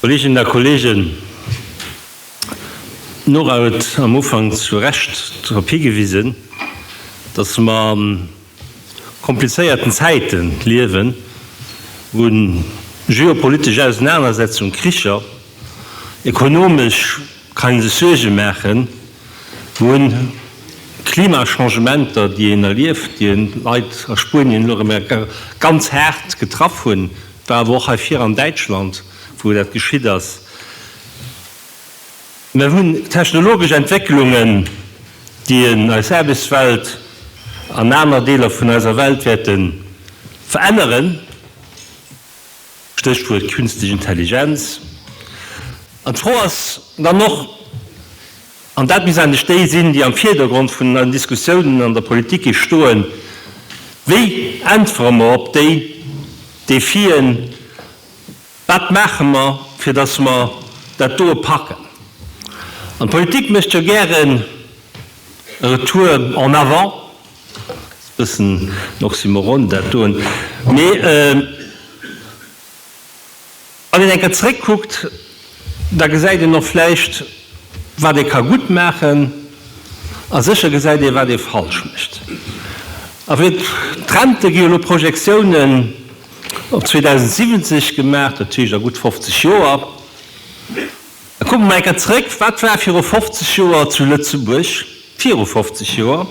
Kolleeginnen a Kolleegen, d'Nora huet am Ufank zu Recht drop higewisen, dass mer komplizéierten Zäite liewen, u geopolitesch Ausenanersetzung, Kricher, ekonomesch kann ee sech Suerge maachen, u Klimachangementer, déi een erlieft, déi Leit a Spuenien elo erëm ganz haart getraff hunn, et war awer och hei vir an Däitschland, wou dat geschitt ass. Mir hunn technologesch Entwécklungen, déi eis Aarbechtswelt an aner Deeler vun eiser Welt wäerte veränneren, Stéchwuert Künstlich Intelligenz. An d'Fro ass dann och, an dat misst eigentlech déi sinn, déi am Vierdergrond vun den Diskussiounen an der Politik ee stoen, Wéi äntwere mer op déi Defien, Wat maache mer, fir datt mer dat doe packen? An d'Politik mécht jo gären e Retour en avant, e bëssen en Oxymoron dat doen, mee wann een eng Kéier zeréckkuckt, da gesäit een och vläicht, wat ee ka gutt maachen, a sécher gesäit ee, wat ee falsch mécht. A vu Rente gi jo elo Projektiounen. Op 2070 gemaach, dat heescht a gutt 50 Joer. Da kucke mer eng Kéier zréck, Wat war viru 50 Joer zu Lëtzebuerg? Viru 50 Joer,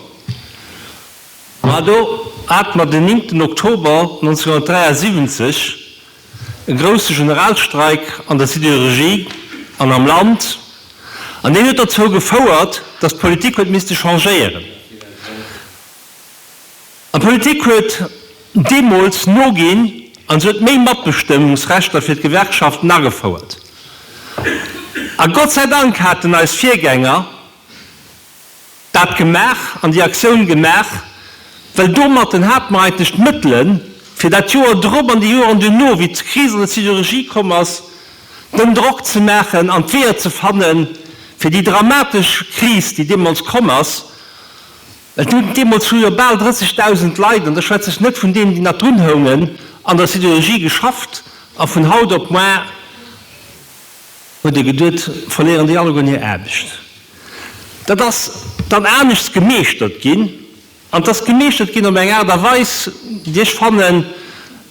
ma do hate mer den nimmten Oktober 1973, e grousse Generalstreik an der Sidérurgie an am Land, an deen huet derzou gefouert, datt d'Politik huet misste changéieren. An d'Politik huet deemools noginn an se huet méi Matbestëmmungsrechter fir d'Gewerkschaften agefouert. A Gott sei Dank haten eis Virgänger dat gemaach an déi Aktioun gemaach, well domatten hat mer eigentlech d'Mëttelen, fir dat Joer drop an déi Joren duerno, wéi d'Kris an der Sidérurgie komm ass, den Drock ze maachen an d'Weeër ze fannen, fir déi dramatesch Kris, déi deemools komm ass, Et hunn deemools vun jo bal 30.000 Leit, an da schwätz ech net vun deenen, déi nach drun houngen, an der Sidérurgie geschafft. A vun haut op moar huet ee geduet, verléieren déi allegueren hir Aarbecht. Dat ass dann anescht gemeeschtert ginn, an et ass gemeeschtert ginn op eng Aart a Weis, déi ech fannen,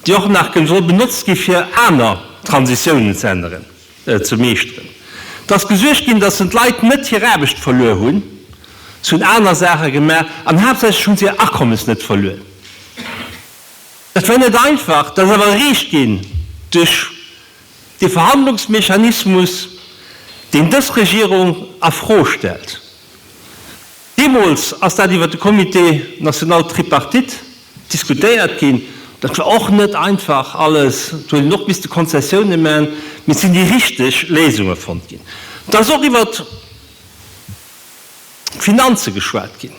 déi och nach soll benotzt gi fir aner Transitiounen ze änneren. ze meeschteren. Et ass gesuergt ginn, datt d'Leit net hir Aarbecht verluer hunn, se hunn aner Saache gemaach an haaptsächlech hu se hir Akommes net verluer. Dat war net einfach, dat ass awer erreecht ginn duerch dee Verhandlungsmechanismus, deen dës Regierung a Fro stellt. Deemools ass dat iwwer de Comité national tripartite diskutéiert ginn. Dat war och net einfach alles. Do hunn een och misste Konzessiounen man, mee et sinn déi richteg Léisunge fonnt ginn. Et ass och iwwer d'Finanze geschwat ginn.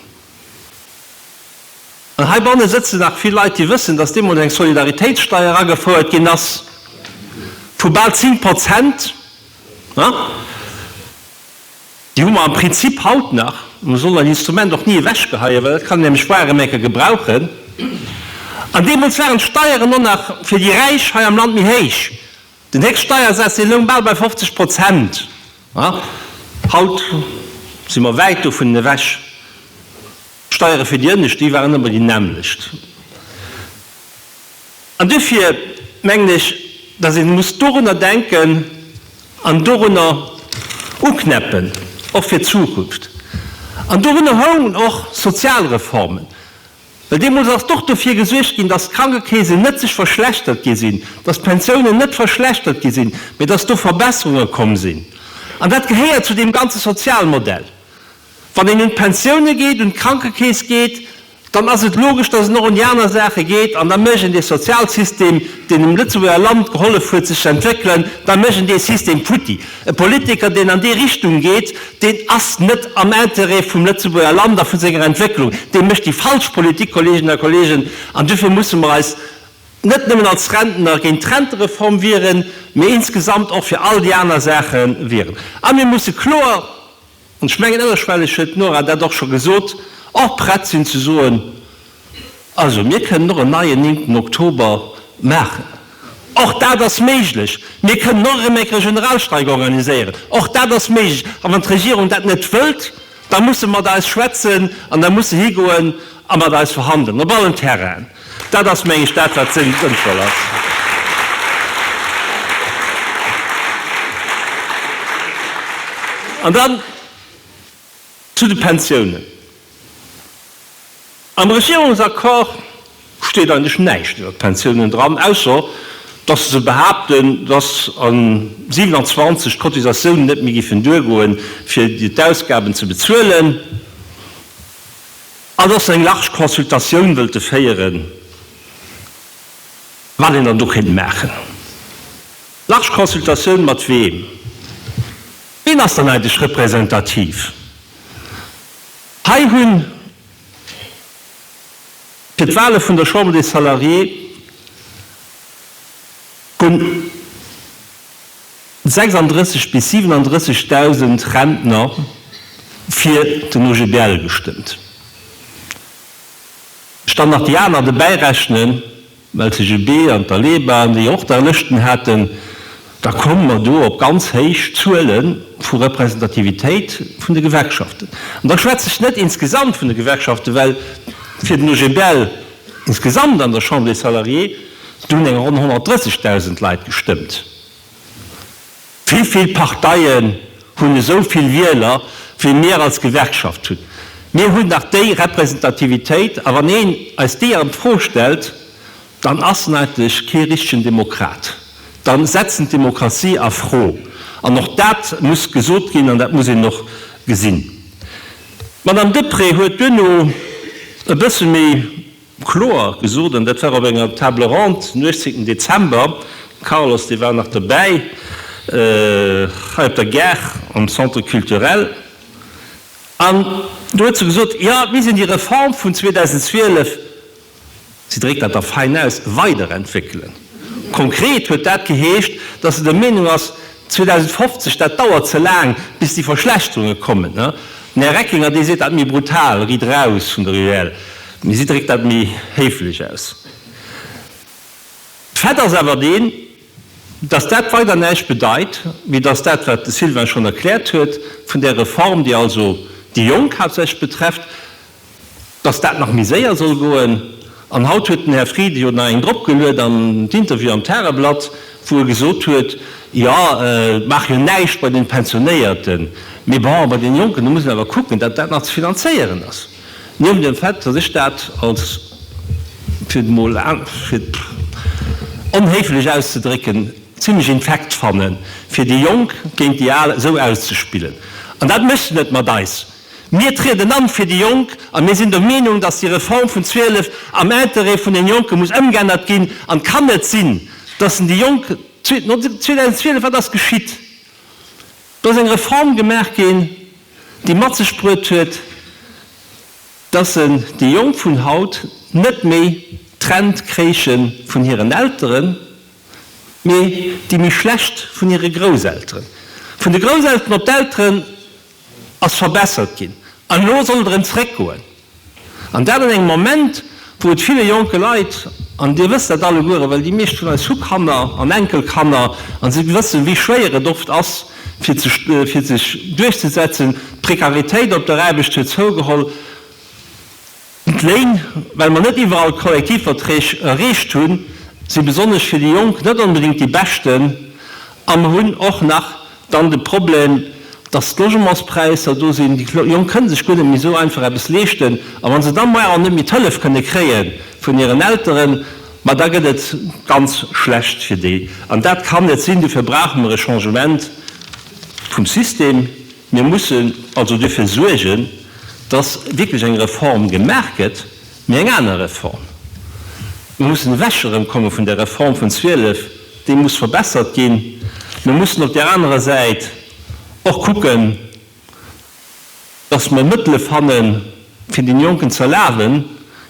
An heibanne sëtzen nach vill Leit, déi wëssen, dass deemools eng Solidaritéitssteier agefouert ginn ass vu bal 10 Prozent. Déi hu mer am Prinzip haut nach. Mer sollen dat Instrument och ni ewechgeheien, well et kann een nämlech Waremärke gebrauchen. An deemools waren d'Steieren och nach fir déi Räich hei am Land méi héich. Den Héchststeiersaz, dee loung bal bei 50 Prozent. Haut si mer wäit dovun ewech. D'Steiere fir déi Ënnescht, déi waren ëmmer déi nämmlecht. An duerfir mengen ech, datt ee muss dorunner denken an dorunner uknäppen, och fir d'Zukunft. An dorunner houngen och Sozialreformen, well deemools ass och dofir gesuergt ginn, datt d'Krankekeesen net sech verschlechtert gi sinn, datt d'Pensiounen net verschlechtert gi sinn, mee datt do Verbesserunge komm sinn. An dat gehéiert zu deem ganze Sozialmodell. Wann een un d'Pensioune geet, un d'Krankekeess geet, dann ass et logesch, datt en och un déi aner Saache geet. An da mécht een dee Sozialsystem, deen dem Lëtzebuerger Land gehollef huet sech ze entwéckelen, da mécht een dee System futti. E Politiker, deen an déi Richtung geet, deen ass net am Interêt vum Lëtzebuerger Land a vu senger Entwécklung. Dee mécht déi falsch Politik, Kolleeginnen a Kolleegen. An duerfir musse mer eis net nëmmen als Rentner géint d'Rentereform wieren, mee insgesamt och fir all déi aner Saache wieren. A mir musse kloer. An ech mengen, ënnerschwelleg huet d'Nora dat och scho gesot, och prett sinn ze soen, Also mir kënnen och en neien néngten Oktober maachen, och dat ass méiglech. Mir kënnen och erëm eng Regionalstreik organiséieren, och dat ass méiglech. A wann d'Regierung dat net wëllt, da muss se mat eis schwätzen an da muss se higoen a mat eis verhandelen op allen Terrainen. Dat ass, meng ech, dat, wat sënnvoll ass. An dann zu de Pensiounen. Am Regierungsaccord steet eigentlech näischt iwwer d'Pensiounen dran, ausser dass se behaapten, dass a 27 d'Cotisatiounen net méi géifen duergoen, fir d'Ausgaben ze bezuelen. An och eng large Consultatioun wëlte féieren, wat een dann do kéint maachen. Large Consultatioun mat weem? Wien ass dann eigentlech representativ? Hei hunn fir d'Wahle vun der Chambre des Salariés hunn. 36 bis 37.000 Rentner fir den OGBL gestëmmt. Ech dann nach déi aner dobäi rechnen, LCGB an d'ALEBA, déi jo och da Lëschten haten, da komme mer do op ganz héich Zuele vu Representativitéit vun de Gewerkschaften. An da schwätze ech net insgesamt vun de Gewerkschaften, well fir den OGBL insgesamt an der Chambre des Salariés, do hunn eng ronn 130.000 Leit gestëmmt. Wéivill Parteien hunn esou vill Wieler wéi mir als Gewerkschaft hunn? Mir hunn nach déi Representativitéit, a wann een eis déi an d'Fro stellt, dann ass en eigentlech kee richtegen Demokrat, dann setzt en d'Demokratie a Fro. An och dat muss gesot ginn an dat muss een och gesinn. D'Madame Deprez huet duerno e bësse méi. Kloer gesot, an dat war op enger Table ronde den 18 Dezember, de Carlos, dee war nach dobäi, hei op der Gare am Centre culturel, an do huet se gesot, jo, mir missten déi Reform vun 2012, si dréckt dat da fein aus, weiderentwéckelen. Konkret huet dat geheescht, dass se der Meenung ass, 2050, dat dauert ze laang, bis déi Verschlechterunge kommen. Den Här Reckinger, dee seet dat méi brutal, Ridd eraus vun der UEL, mee si dréckt dat méi héiflech aus. Fait ass awer deen, dass dat weider näischt bedeit, wéi dass dat, wat de Sylvain schonn erkläert huet, vun där Reform, déi also déi Jonk haaptsächlech betrefft, dass dat nach méi séier soll goen. An haut huet den Här Frieden jo nach eng dropgeluet an d'Interview am Tageblatt, wou e gesot huet, jo et maache jo näischt bei den Pensionéierten, mee bon, bei den Jonken, do muss een awer kucken, datt dat nach ze finanzéieren ass. Niewent dem Fait, datt ech dat als, fir et emol onhéiflech auszedrécken, zimlech infekt fanne fir déi Jonk géint déi Al esou auszespillen. An dat mécht en net mat eis. Mir trieden an fir déi Jonk a mir sinn der Meenung, dass déi Reform vun 12 am Intérêt vun den Jonken muss ëmgeännert ginn. An et kann net sinn, dass en déi Jonk, 2012, wat ass geschitt? Do ass eng Reform gemaach ginn, déi mat sech bruet huet, dass en déi Jonk vun haut net méi trennt kréiche vun hiren Elteren, mee déi méi schlecht vun hire Grousselteren. Vun de Grousselteren op d'Elteren ass verbessert ginn an elo soll et erëm zréckgoen. An dat an engem Moment, wou et ville jonke Leit, an Dir wësst dat allegueren, well déi meescht vun eis hu Kanner an Enkelkanner a si wëssen, wéi schwéier et oft ass, fir sech duerchzesetzen. D'Prekaritéit op der Aarbecht huet zougeholl. D'Léin, well mer net iwwerall d'Kollektivverträg erreecht hunn, si besonnesch fir déi Jonk net onbedéngt déi beschten. A mer hunn och nach dann de Problem, datt d'Logementspräisser do sinn. Déi Jonk kënne sech guer net méi esou einfach eppes leeschten. A wa se da muer och net méi d'Hëllef kënne kréie vun hiren Elteren, ma da gëtt et ganz schlecht fir déi. An dat kann net sinn. Dofir brauche mer e Changement vum System. Mir mussen also duerfir suergen, dass wierklech eng Reform gemaach gëtt, mee eng aner Reform. Mir mussen ewech erëmkomme vun der Reform vun 12, déi muss verbessert ginn. Mir mussen op där anerer Säit och kucken, dass mer Mëttele fannen, fir deene Jonken ze erlaben,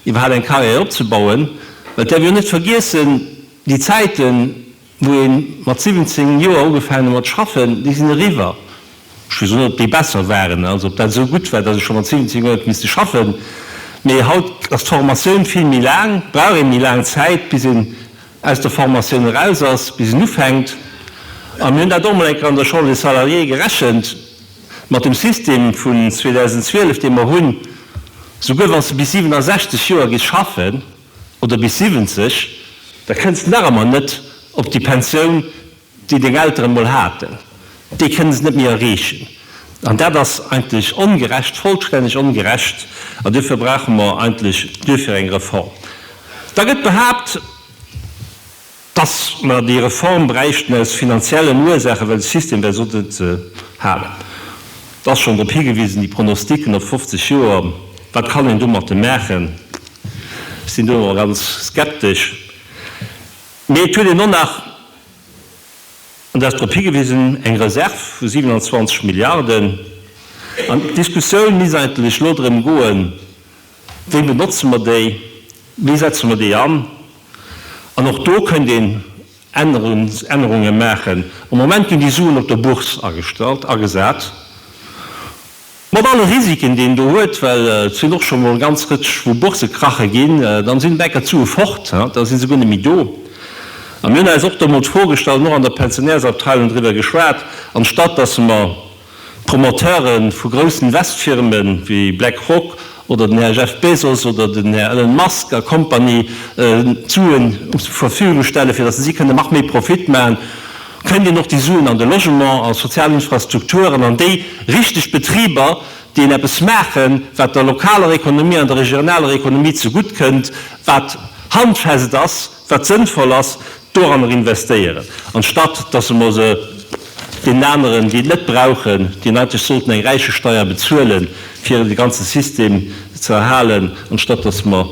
iwwerhaapt eng Carrière opzebauen. Well et däerf een jo net vergiessen, déi Zäiten, wou ee mat 17 Joer ugefaangen huet mat schaffen, déi sinn eriwwer. Ech wëll soen, ob déi besser waren, also ob dat esou gutt war, datt ee scho mat 17 Joer huet misste schaffen. Mee haut ass d'Formatioun vill méi laang, brauch ee méi laang Zäit, bis een aus der Formatioun eraus ass, bis een ufänkt. A mir hunn dat och emol eng Kéier an der Chambre des Salariés gerechent, mat dem System vun 2012, dee mer hunn, souguer wa se bis 67 Joer gi schaffen, oder bis 70, da kënns de nach emmer net op déi Pensioun, déi deng Elteren emol haten. Déi kënne se net méi erreechen. An dat ass eigentlech ongerecht, vollstänneg ongerecht. An duerfir brauche mer eigentlech duerfir eng Reform. Da gëtt behaapt, Dass mer déi Reform bräichten aus finanziellen Ursaachen, well de System wär soss net ze halen. Et ass schonn drop higewisen, déi Pronostiken op 50 Joer, wat kann een domatten maachen? Ech sinn do nach ganz skeptesch. Mee et huet een och nach, an do ass drop higewisen, eng Reserv vu 27 Milliarden. An d'Diskussioun misst eigentlech elo drëm goen, Wéi benotze mer déi? Wéi setze mer déi an? An och do kënnt een Ännerungen maachen. Am Moment ginn déi Suen op der Bourse agestallt, agesat, mat alle Risiken, déi een do huet, well et sinn och scho mol e ganz Rëtsch vu Bourse krache ginn. Dann sinn Bänker zu e fort, da si se guer net méi do. A mir hunn eis och do mol d'Fro gestallt an och an der Pensionärsabteilung driwwer geschwat, anstatt datt mer, D'Promoteure vu groussen Investfirme wéi Black Rock oder den Här Jeff Bezos oder den Här Elon Musk a Company d'Suen zur Verfügung stellen, fir datt si kënnen nach méi Profit maachen, kënnt een och déi Suen an de Logement, a sozial Infrastrukturen, an déi richteg Betriber, déi een eppes maachen, wat der lokaler Ekonomie an der regionaler Ekonomie zegutt kënnt, wat handfest ass. wat sënnvoll ass, doranner investéieren, anstatt dass mer se deenen aneren, déi et net brauchen, déi eigentlech sollten eng Räichesteier bezuele fir de ganze System ze erhalen, anstatt dass mer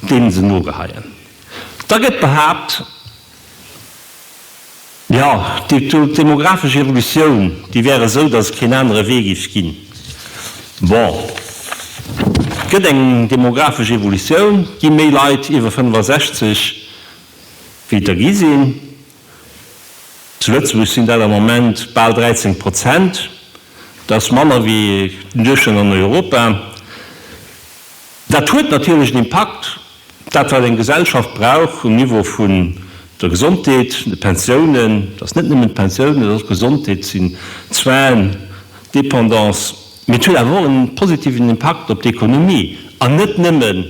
deene se nogeheien. Da gëtt behaapt, Jo, d'demographesch Evolutioun, déi wär esou, datt et keen anere Wee géif ginn. Bon, et gëtt eng demographesch Evolutioun, et gi méi Leit iwwer 65, wéi et der gi sinn. Zu Lëtzebuerg sinn dat am Moment bal 13 Prozent. Dat ass manner wéi den Duerchschnëtt an Europa. Dat huet natierlech en Impakt, dat wat eng Gesellschaft brauch um Niveau vun der Gesondheet, de Pensiounen, et ass net nëmmen d'Pensioun, et ass och d'Gesondheet, et sinn d'Soins, d'Dépendance, mee et huet awer och e positiven Impakt op d'Ekonomie, an net nëmmen,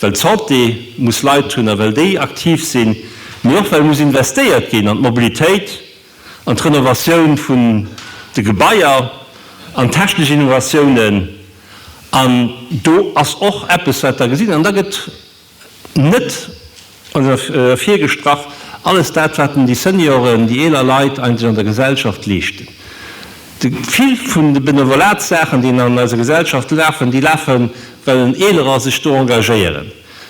well d'Santé muss Leit hunn a well déi aktiv sinn, mee och well muss investéiert ginn an d'Mobilitéit. an d'Renovatioun vun de Gebaier an technesch Innovatiounen, an do ass och eppes, wat Der gesitt. An da gëtt net ervirgestrach alles dat, wat den déi Senioren, déi eeler Leit eigentlech an der Gesellschaft leeschten. De vill vun de Benevolatssaachen, déi an eiser Gesellschaft lafen, déi lafen, well en Eelerer sech do engagéieren.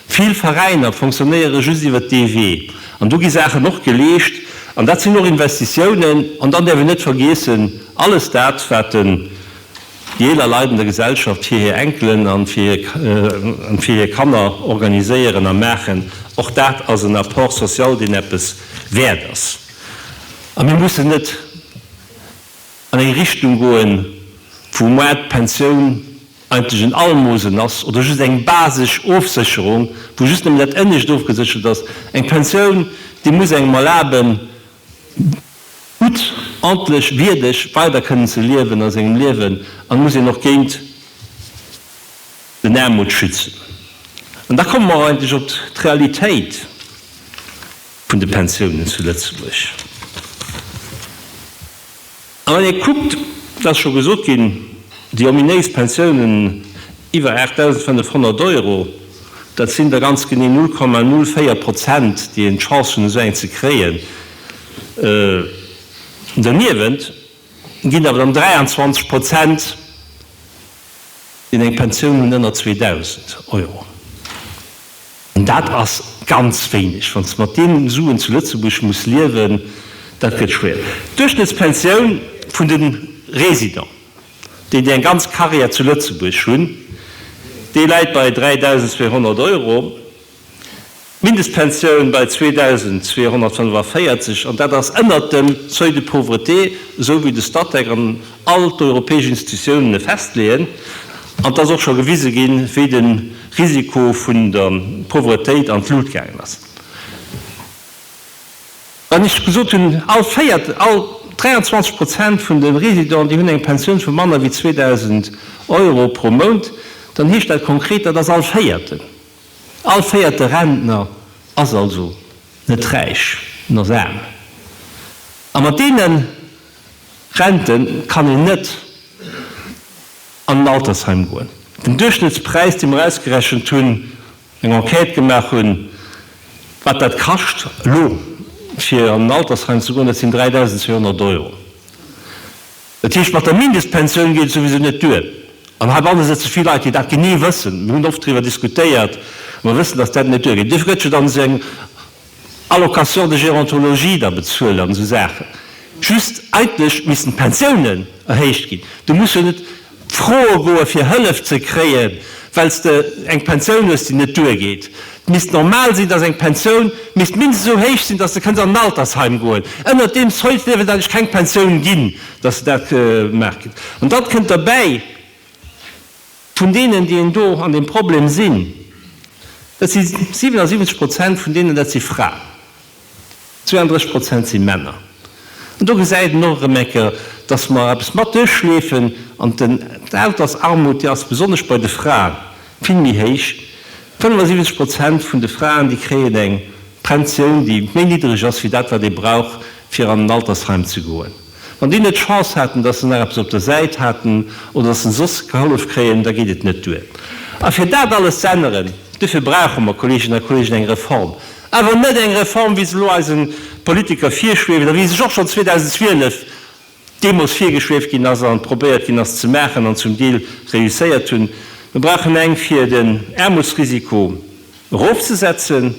Vill Veräiner fonctionnéiere just iwwer DW an do gi Saachen och geleescht an dat sinn och Investitiounen. An dann däerf een net vergiessen, alles dat wat déi eeler Leit an der Gesellschaft fir hir Enkelen an fir hir Kanner organiséieren a maachen, och dat ass en Apport social, deen eppes wäert ass. A mir mussen net an eng Richtung goen, wou d'Pensioun, eigentlech en Almosen ass oder just eng basesch Ofsécherung, wou just nëmmen dat Énnescht ofgeséchert ass, eng Pensioun, déi muss engem erlaben, gutt, ordntlech, wierdeg weider kënnen ze liewen a sengem Liewen an muss een och géint den Aarmut schützen. An da komme mer och eigentlech op d'Realitéit vun de Pensiounen zu Lëtzebuerg. A wann ee kuckt, et ass scho gesot ginn, déi ominéis Pensiounen iwwer 8.500 Euro, dat sinn der ganz genee 0,04 Prozent, déi een d'Chance hunn, esou eng ze kréien. Derniewent ginn awer dann 23 Prozent deen eng Pensioun hunn ënner 2.000 Euro, an dat ass ganz wéineg, wann s de mat deenen Suen zu Lëtzebuerg muss liewen, dat gëtt schwéier. D'Duerchschnëttspensioun vun de Resident, déi déi eng ganz Karriär zu Lëtzebuerg hunn, déi läit bei 3.200 Euro. D'Mindestpensioun bei 2.245, an dat ass ënnert dem Seuil de pauvreté, esou wéi de Statec an all d'europäesch Institutiounen e festleeën. An et ass och scho gewise ginn, wéi de Risiko vun der Pauvretéit an d'Lut gaangen ass. Wann ech gesot hunn, all véiert, all 23 Prozent vun de Résidenten, déi hunn eng Pensioun vu manner wéi 2.000 Euro pro Mount, dann heescht dat konkret, dat ass all Véierten. All véierte Rentner ass also net räich, en ass aarm. A mat deene Rente kann een net an en Altersheim goen. Den Duerchschnittspräis, dee mer ausgerechent hunn, eng Enquête gemaach hunn, wat dat kascht elo fir an en Altersheim ze goen, dat sinn 3.200 Euro. Dat heescht, mat der Mindestpensioun geet et souwisou net duer. An heibanne sëtze vill Leit, déi dat genee wëssen. Mir hunn oft driwwer diskutéiert. Mer wëssen, dass dat net duergeet. Duerfir gëtt jo dann esou eng Allocation de gérontologie da bezuelt an esou Saachen. Just eigentlech missten d'Pensiounen erhéicht ginn. Du muss jo net froe goe fir Hëllef ze kréien, well s de eng Pensioun hues, déi net duergeet. Et misst normal sinn, dass eng Pensioun misst mindestens esou héich sinn, dass de kënns an en Altersheim goen. Ënnert deem Seuil dierf et eigentlech keng Pensioun ginn, dass de dat gemaach kritt. An dann kënnt derbäi, vun deenen, déi en do an deem Problem sinn, dat si 77 Prozent vun deenen, dat si Fraen. 32 Prozent si Männer. An do gesäit een och erëm eng Kéier, dass mer eppes mat duerchleefen. An d'Altersarmut, déi ass besonnesch bei de Fraen vill méi héich. 75 Prozent vun de Fraen, déi kréien eng Pensioun, déi méi niddreg ass wéi dat, wat ee brauch, fir an en Altersheim ze goen. Wann déi net d'Chance haten, datt se nach eppes op der Säit haten oder datt se soss gehollef kréien, da geet et net duer. A fir dat alles z'änneren, dofir brauche mer, Kolleeginnen a Kolleegen, eng Reform. Awer net eng Reform, wéi se elo eise Politiker virschwieft a wéi se och schonn 2012 deemools virgeschwieft ginn ass a probéiert ginn ass ze maachen an zum Deel réusséiert hunn. Mer brauchen eng, fir den Aarmutsrisiko erofzesetzen,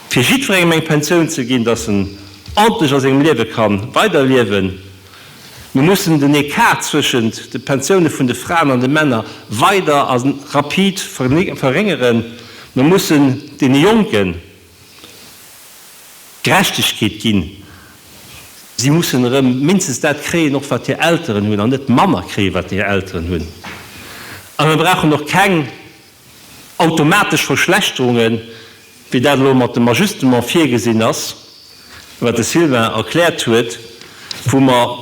Fir jiddwerengem eng Pensioun ze ginn, dass en ordentlech a sengem Liewe ka weiderliewen. Mir mussen den Ecart zwëschent de Pensioune vun de Fraen an de Männer weider a rapid verréngeren. Mir mussen deene Jonke Gerechtegkeet ginn. Si mussen erëm mindestens dat kréien, och wat hir Elteren hunn, an net manner kréien, wat hir Elteren hunn. A mir brauchen och keng Automatesch Verschlechterungen, wéi dat elo mat dem Ajustement virgesinn ass, wat de Sylvain erkläert huet, wou mer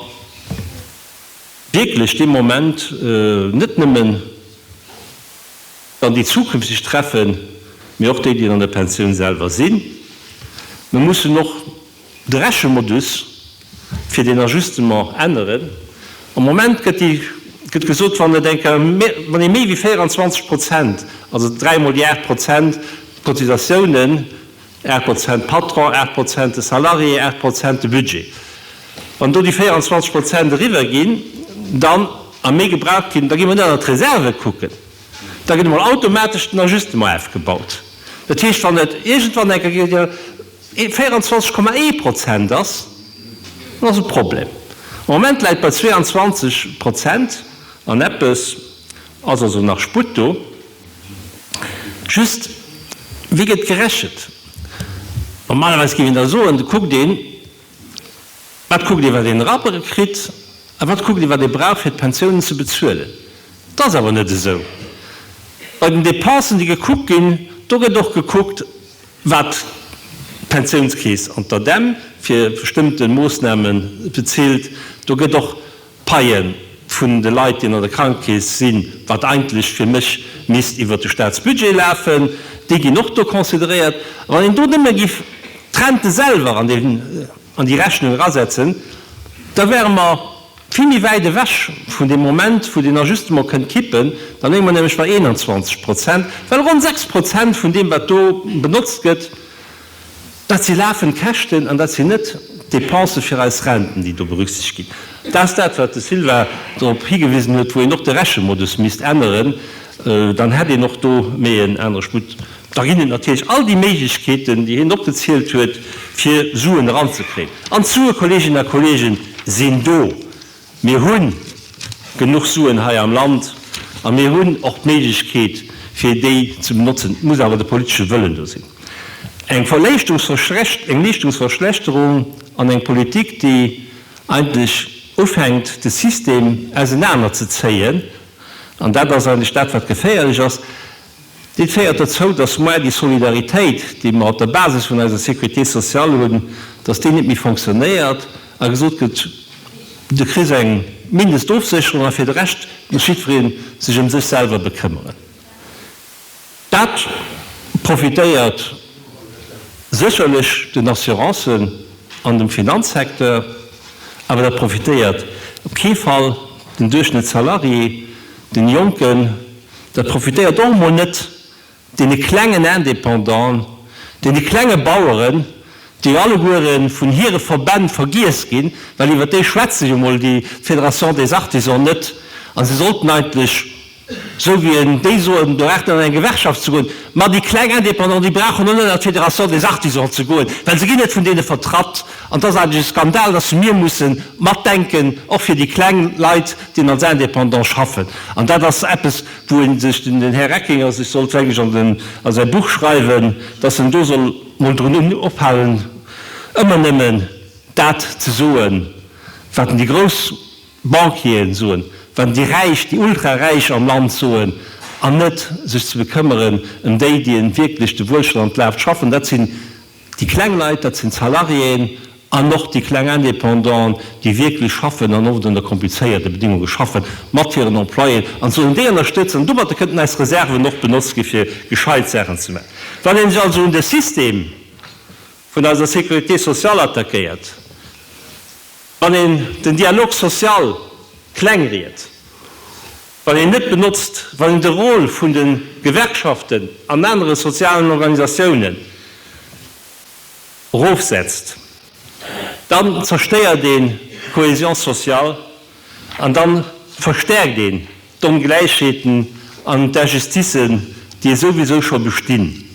wierklech dee Moment net nëmme dann déi zukünfteg treffen, mee och déi, déi an der Pensioun selwer sinn. Mer mussen och. De Rechemodus fir deen Ajustement änneren. Am Moment gëtt gesot, wann ee méi wéi 24 Prozent, also dräi Mol déi 8 Prozent d'Cotisatiounen, 8 Prozent de Patron, 8 Prozent de Salarié, 8 Prozent de Budget, wann do déi 24 Prozent eriwwer ginn, dann a méi gebraucht ginn, da gi mer net an d'Reserve kucken, da gëtt emol automatesch den Ajustement efgebaut. Dat heescht, wann et iergendwann enker. 24,1 Prozent ass, dann ass e Problem. Am Moment läit bei 22 Prozent an eppes, ass also nach Sputt do. Just, wéi gëtt gerechent? Normalerweis géif een da soen, da kuckt een, wat kuckt ee wat een erabbere kritt a wat kuckt ee wat ee brauch fir d'Pensiounen ze bezuelen. Dat ass awer net esou. Bei den Dépensen déi gekuckt ginn, do gëtt och gekuckt, Wat d'Pensiounskeess an d'ADEM fir bestëmmte Moossname bezilt, do gëtt och d'Paie vun de Leit, déi an der Krankekeess sinn, wat eigentlech fir mech misst iwwert de Staatsbudget lafen, déi ginn och do consideréiert. A wann een do nëmme giff d'Rente selwer an déi Rechnung erasetzen, da wäre mer Vill méi wäit ewech vun dem Moment, wou den Ajustement kënnt kippen. Da léie mer nämlech bei 21 Prozent, well ronn 6 Prozent vun deem, wat do benotzt gëtt, dat si lafend Käschten an dat sinn net d'Dépense fir eis Renten, déi do berücksichtegt ginn. Dat ass dat, wat de Sylvain drop higewisen huet, wou een och de Rechemodus misst änneren, dann hätt een och do méi en anere Sputt. Da ginn et natierlech all déi Méiglechkeeten, déi hien opgezielt huet, fir Suen eranzekréien. An d'Sue, Kolleeginnen a Kolleegen, sinn do. Mir hu genuch Suen hei am Land a mir hunn och d'Méiglechkeet, fir déi ze benotzen. Et muss awer de politesche Wëllen do sinn. Eng Verléischtungsverschlecht-, eng Leeschtungsverschlechterung an eng Politik, déi eigentlech ufänkt, de System ausenanerzezéien, an dat ass eigentlech dat, wat geféierlech ass, Dit féiert derzou, dass maer déi Solidaritéit, déi mer op der Basis vun eiser Sécurité sociale hunn, dass déi net méi fonctionnéiert a gesot gëtt, Du kriss eng Mindestofsécherung a fir de Rescht muss jiddweree sech ëm sech selwer bekëmmeren. Dat profitéiert sécherlech den Assurancen an dem Finanzsecteur, awer dat profitéiert op kee Fall den Duerchschnëttssalarié, den Jonken, Dat profitéiert och emol net deene klengen Indépendanten, deene klenge Baueren, déi alleguere vun hire Verbänn vergiess ginn, well iwwer déi schwätzt sech emol déi Fédération des Artisans net. A se sollten eigentlech, esou wéi en déi soen, do braucht een an eng Gewerkschaft ze goen. Ma déi kleng Indépendanten, déi brauchen och net an d'Fédération des Artisans ze goen, well se ginn net vun deene vertratt. An et ass eigentlech e Skandal, dass mir mussen matdenken, och fir déi kleng Leit, déi als Indépendant schaffen. An dat ass eppes, wou ee sech, den Här Reckinger sech sollt eigentlech a säi Buch schreiwen, dass en do soll emol drun ophalen, ëmmer nëmmen dat ze soen, wat en déi grouss Banquier'en soen, wat en déi Räich, déi Ultraräich am Land soen, an net sech ze bekëmmeren ëm déi, déi en wierklech de Wuelstand laaft schaffen. Dat sinn Déi kleng Leit, dat sinn d'Salariéen an och déi kleng Indépendant, déi wierklech schaffen an oft ënner komplizéierte Bedéngunge schaffen, mat hiren Employéen an sollen déi ënnerstëtzen. An domatter kënnten eis Reserven och benotzt gi fir gescheit Saachen ze maachen. Wann ee sech also un de System vun eiser Sécurité sociale attackéiert, wann een den Dialogue social kleng riet, Wann een net benotzt, wann een de Rôle vun de Gewerkschaften an anere sozialen Organisatiounen erofsetzt, dann zerstéiert een d'Cohésion sociale an dann verstärkt een d'Ongläichheeten an d'Injusticen, déi esouwisou scho bestinn.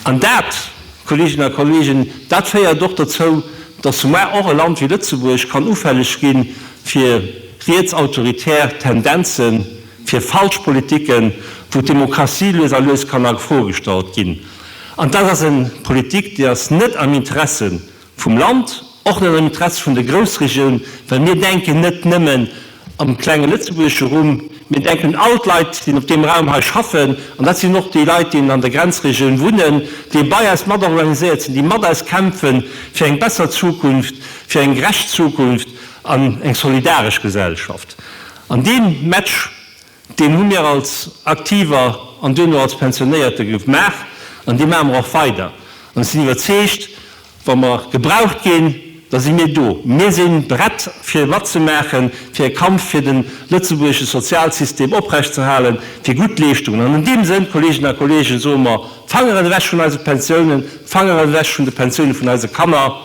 An dat, Kolleeginnen a Kolleegen, dat féiert och dozou, dass soumat och e Land wéi Lëtzebuerg kann ufälleg gi fir rietsautoritär Tendenzen, fir falsch Politiken, wou d'Demokratie lues a lues kann a Fro gestallt ginn. An dat ass eng Politik, déi ass net am Interesse Vum Land, och net am Interessi vun der Groussregioun, well mir denken net nëmmen am klenge lëtzebuergesche Rumm, mir denken un all d'Leit, déi op deem Raum hei schaffen, an dat sinn och déi Leit, déi an der Grenzregioun wunnen, déi bei eis mat organiséiert sinn, déi mat eis kämpfen fir eng besser Zukunft, fir eng gerecht Zukunft an eng solidaresch Gesellschaft. An dee Match Deen hu mir als Aktiver an duerno als Pensionéierte gemaach an dee maache mer och weider. An ech sinn iwwerzeegt, wa mer gebraucht ginn, da si mir do. Mir si prett fir matzemaachen, fir e Kampf fir de lëtzebuergesche Sozialsystem oprechtzehalen, fir gutt Leeschtungen. An an deem Sënn, Kolleeginnen a Kolleegen, soe mer, Fangeren ewech vun eise Pensiounen, Fangeren ewech vun de Pensioune vun eise Kanner.